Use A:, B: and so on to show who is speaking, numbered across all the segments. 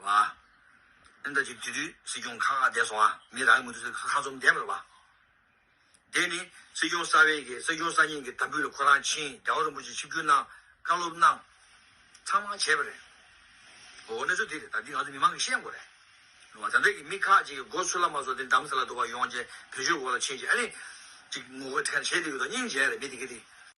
A: བ། ཨིན་ད་ཅི་དུས་དུས་སྲིད་སྐྱོང་ཁ་ཁ་བསྡད་སོང་ཨ་མི་རང་གི་མུ་ཏུ་ཁ་ཁ་ཚོམ་བསྡད་པར་བ། དེ་ནི་སྲིད་སྐྱོང་གསར་བའི་གི་སྲིད་སྐྱོང་གསར་རྙིང་གི་དམ་འབུལ་ལ་ཁོ་རང་ཕྱིན་རྒྱ་བ་རིན་པོ་ཆེ་ཆིབས་བསྒྱུར་གནང་བཀའ་སློབ་གནང། ཚང་མ་བྱས་པ་རེད། འོ་གནས་ཚུལ་དེ་རེད་ད་འདི་ང་ཚོ་མི་མང་གི་ཤེས་དགོས་རེད། ལུང་བ་ད་འདྲ་གི་མི་ཁག་ཅིག་གི་སྒོ་ཆུ་ལ་མ་སོ་དེ་འགྲམ་ས་ལ་འདུག་པ་ཡོང་རྗེས་བོད་ཆོས་འོག་ལ་ཕྱིན་རྗེས་ཨ་ནི། ཅིག་ངོ་རྒོལ་ཁ་ཤས་བྱས་འདུག་གི་འདུག་སྙིང་རྗེ་རེད་མི་དེ་གི་དེ།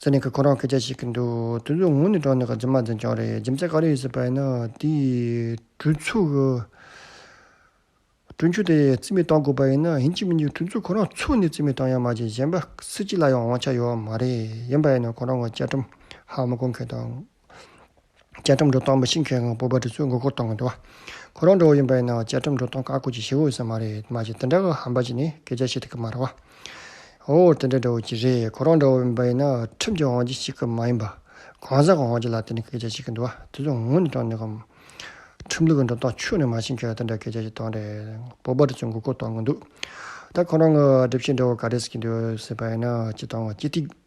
B: ཟེར་ནས་ཁོས་ཁོ་རང་སྐད་ཆ་བཤད་གི་འདུག་དུས་ཚོད་ངུ་ནས་དྲངས་ནས་རྗེས་མ་འཛིན་རྐྱང་རེད་རྗེས་མ་ཚད་ག་རེ་ཡོད་སྲིད་པ་ཡིན་ན་དེའི་གྲོས་ཚུགས་གྲོས་མཆོད་དེ་རྩིས་མེད་བཏང་དགོས་པ་ཡིན་ན་ཡིན་གཅིག་མིན་གཅིག་དུས་ཚོད་ཁོ་རང་ཚུགས་ནས་རྩིས་མེད་བཏང་ཡ་མ་བྱས་གཞན་པ་སུ་གཅིག་ལ་ཡང་དབང་ཆ་ཡོད་མ་རེད་ཡིན་པ་ཡིན་ན་ཁོ་རང་གི་བཅའ་ཁྲིམས་ཧ་མ་གོ་མཁན་དང། བཅའ་ཁྲིམས་འགྲོ་སྟངས་མ་ཤེས་མཁན་གང་སྤོབས་པ་དེ་ཚོའི་མགོ་སྐོར་གཏོང་གི་འདུག་བ། ཁོ་རང་འགྲོ་བ་ཡིན་པ་ཡིན་ནའང་བཅའ་ཁྲིམས་འགྲོ་སྟངས་བཀག་འགོག་ཅིག་བྱེད་འོས་ས་མ་རེད་མ་གཞི་དེ་འདྲ་གི་ཧམ་པ་ཅིག་ནི་སྐད་ཆ་བཤད་ཐུབ་ཀི་མ་རེད་བ། འོ་དེ་འདྲ་འདྲ་བོ་ཅིག་རེད་ཁོ་རང་འདྲ་བོ་ཡིན་པ་ཡིན་ན་ཁྲིམས་ཀྱི་དབང་ཆ་ཞིག་གི་མ་ཡིན་པ། གང་ཟག་གི་དབང་ཆ་ལ་བརྟེན་ནས་སྐད་ཆ་བཤད་ཀི་འདུག་བ་དེ་ཚོ་ངུ་ནས་དྲན་འདུག་གམ། ཁྲིམས་ལུགས་ཀྱི་འགྲོ་སྟངས་ཆུང་ནས་མ་ཤེས་མཁན་དེ་འདྲ་སྐད་ཆ་ཞིག་གཏོང་འདྲའི་སྤོབས་པ་དེ་ཚོའི་མགོ་སྐོར་གཏོང་གི་འདུག་ད་ཁོ་རང་གི་སྒྲིབ་བཤད་འདྲ་བོ་ག་རེ་ཟེར་གྱི་འདུག་ཟེར་བ་ཡིན་ན་ཅི་གཏོང་བ་ཅི་ཐིག།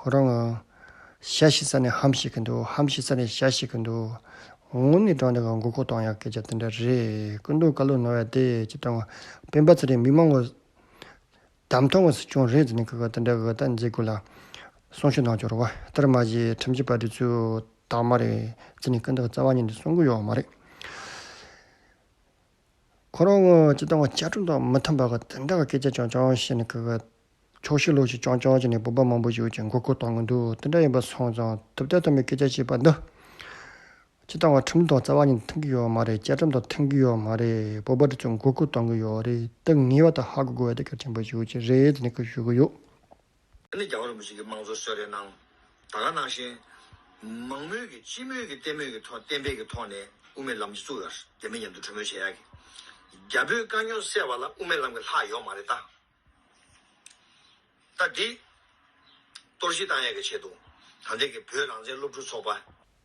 B: ཁོ་རང་ང། ཤ་ཞིག་ཟ་ནས་ཧམ་ཞིག་གི་འདུག་ཧམ་ཞིག་ཟ་ནས་ཤ་ཞིག་གི་འདུག། ངུ་ནས་བྲང་དེ་ག་མགོ་ཁོག་སྟོང་ཡག་སྐད་ཆ་དེ་འདྲ་རེད། སྐུ་མདུང་བཀའ་བློན་ནོར་བས་བདེ་སྐྱིད་བཏང། སྤེན་པ་ཚེ་རིང་མི་མང་གི། དམ་ཐོག་གི་སྲིད་སྐྱོང་རེད་ཟེར་ནས་གི་གི་དེ་འདྲ་གི་གི་ལྟ་མཛད་དགོས་ལ། གསུང་ཆོས་གནང་འབྱོར་བ། དེར་མ་ཟད་ཁྲིམས་ཆད་པ་འདི་ཚོས་དག་མ་རེད། ཟེར་ནས་སྐུ་མདུང་གི་རྩ་བ་ཉིད་འདི་གསུང་གི་ཡོག་མ་རེད། ཁོ་རང་ངོ་ཅི་ལྟ་བུ་ཅག་གྲུབ་མཐའ་མི་མཐུན་པ་ག་དེ་འདྲ་གི་སྐད་ཆ་ཀྱང་ཀྱང་བཤད་ནས་གི་གི། ཆོག་ཤེས་ལོག་ཤེས་ཀྱང་ཀྱང་བྱས་ནས་བོད་པ་མང་པོ་ཞིག་གི་མགོ་སྐོར་བཏང་གི་འདུག་དེ་འདྲ་ཡིན་པ་སོང་ཙང་ཐུབ་བསྟན་ཐོན་པའི་སྐད་ཆ་བཤད་པ་འདི། ཅི་ལྟ་བུ་ཁྲིམས་དང་རྩ་བ་ཉིད་མཐུན་གི་ཡོད་མ་རེད་བཅའ་ཁྲིམས་དང་མཐུན་གི་ཡོད་མ་རེད་བོད་པ་དེ་ཚོ་མགོ་སྐོར་བཏང་གི་ཡོད་རེད་དེ་ངེས་པ་དེ་ཧ་གོ་དགོས་བ་དེ་གལ་ཆེན་པོ་ཞིག་ཡོད་ཀྱི་རེད་དེ་ནས་གི་ཞུ་གི་ཡོད། ཨ་ནི་རྒྱ་
A: བོད་རིན་པོ་ཆེ་གི་དམངས་གཙོ་གསོལ་རས་གནང། ད་ག་ནང་བཞིན། མང་མོས་ཀྱི་སྤྱི་མོས་ཀྱི་བརྟན་མོས་ཀྱི་ཐོག་བརྟན་པའི་ཀྱི་ཐོག་ནས་དབུ་མའི་ལམ་གྱི་བཙུགས་ཡོད། རྒྱ་མི་མཉམ་དུ་གྲོས་མོལ་བྱེད་ཡག་གི། རྒྱ་བོད་དཀའ་རྙོག་སེལ་བ་ལ་དབུ་མའི་ལམ་གྱི་ལྷག་ཡོག་མ་རེད་ད། ད་འདི། གཏོར་བཤིག་བཏང་ཡག་གི་བྱེད་འདུག་ད་འདི་གི་བོད་རང་བཙན་སློབ་ཕྲུག་ཚོགས་པ།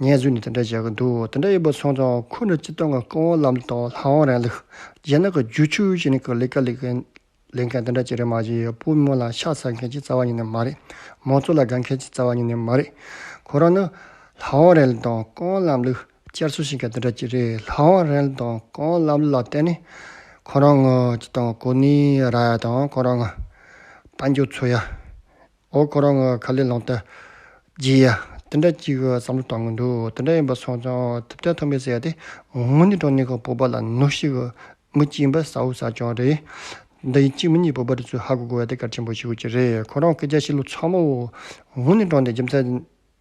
B: ངའི་ཚུལ་ནི་དེ་འདྲ་བྱེད་ཀྱི་འདུག་དེ་འདྲ་ཡིན་པ་སོང་ཙང་ཁོ་ནི་སྤྱི་དོན་གྱི་བཀའ་དབང་ལམ་དང་ལྷ་དབང་རང་ལུགས་རྗེས་གནང་གི་རྒྱུ་ཆོས་ཅན་གྱི་ལས་ཀ་ལས་མཁན་དེ་འདྲ་བྱེད་རིན་མ་བྱེད་པོ་མོ་ལ་ཤ་ཚ་མཁན་གྱི་རྩ་བ་ཉིད་ནས་མ་རེད། མོ་གཙོ་ལ་དགའ་མཁན་གྱི་རྩ་བ་ཉིད་ནས་མ་རེད། ཁོ་རང་ནི་ལྷ་དབང་རན་ལུགས་དང་བཀའ་དབང་ལམ་ལུགས་བསྐྱར་གསོ་བྱེད་མཁན་དེ་འདྲ་གཅིག་རེད། ལྷ་དབང་རན་ལུགས་དང་བཀའ་དབང་ལམ་ལུགས་ལ་བརྟེན་ནས་ཁོ་རང་ངོ་སྤྱི་དང་གོ་གནས་ར་ཡ་དང་ཁོ་རང་ངོ་དཔའ་འགྱུར་ཚུལ་ཡ། ཨོ་ཁོ་རང་གི་ཁ་ལས་ལངས་ཏེ། རྗེ། དེ་འདྲ་གཅིག་གི་བསམ་བློ་བཏང་གི་འདུག་དེ་འདྲ་ཡིན་པ་སོང་ཙང་ཐུབ་བསྟན་ཐོག་མའི་ཟེར་ཡ་དེ་ངོ་ནི་གྲོ་ནས་ཁོ་བོད་པ་ལ་ནུ་ཞིག་གི་མི་གཅིག་ཡིན་པ་ས་འུ་ས་ཅང་རེད། འདི་ཡིན་གཅིག་མིན་གཉིས་བོད་པ་རི་ཚོས་ཧ་གོ་དགོས་ཡ་དེ་གལ་ཆེན་པོ་ཞིག་ཡོད་ཀྱི་རེད་ཁོ་རང་སྐད་ཆ་བཤད་ལུགས་ཚང་མ་ཨོ་ངོ་ནི་གྲོ་ནས་རྒྱུ་མཚན